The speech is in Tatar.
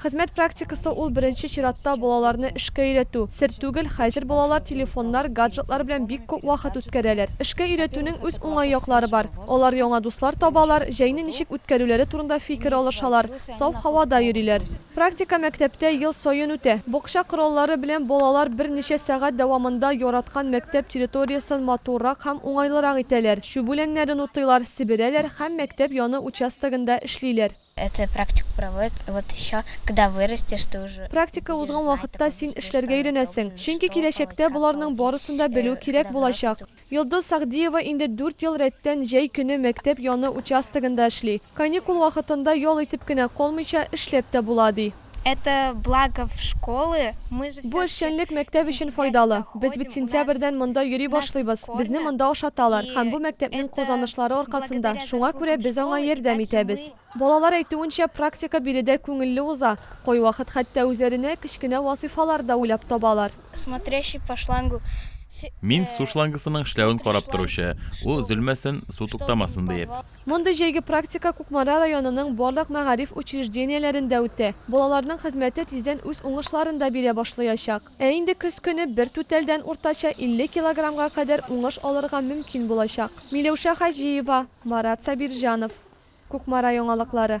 Хезмәт практикасы ул беренче чиратта балаларны эшкә өйрәтү. Сер түгел, хәзер балалар телефоннар, гаджетлар белән бик күп вакыт үткәрәләр. Эшкә өйрәтүнең үз уңай яклары бар. Алар яңа дуслар табалар, җәйне ничек үткәрүләре турында фикер алышалар, саф һавада йөриләр. Практика мәктәптә ел саен үтә. Бакча кораллары белән балалар берничә сәгать дәвамында яраткан мәктәп территориясен матуррак һәм уңайлырак итәләр, чүп үләннәрен утыйлар, себерәләр һәм мәктәп яны участогында эшлиләр. Это практику проводят, вот еще когда вырастешь, ты уже. Практика узган вакытта син эшләргә өйрәнәсең, чөнки киләчәктә боларның барысын да белү кирәк булачак. Йолдыз Сәгъдиева инде дүрт ел рәттән җәй көне мәктәп яны участогында эшли. Каникул вакытында ял итеп кенә калмыйча, эшләп тә була, ди. Это благо в школы, мы же Бу эшчәнлек мәктәп өчен файдалы. Без бит сентябрьдән монда йөри башлыйбыз, безне монда ашаталар һәм бу мәктәпнең казанышлары аркасында, шуңа күрә без аңа ярдәм итәбез. Балалар әйтүенчә, практика биредә күңелле уза, кайвакыт хәтта үзләренә кечкенә вазыйфалар да уйлап табалар. Смотрящий по шлангу. Мин су шлангысының эшләвен карап торучы, ул өзелмәсен, су туктамасын диеп. Мондый җәйге практика Кукмара районының барлык мәгариф учреждениеләрендә үтте. Балаларның хезмәте тиздән үз уңышларын да бирә башлыячак. Ә инде көз көне бер түтәлдән уртача 50 килограммга кадәр уңыш алырга мөмкин булачак. Миләүшә Хаҗиева, Марат Сабирҗанов. Кукмара яңалыклары.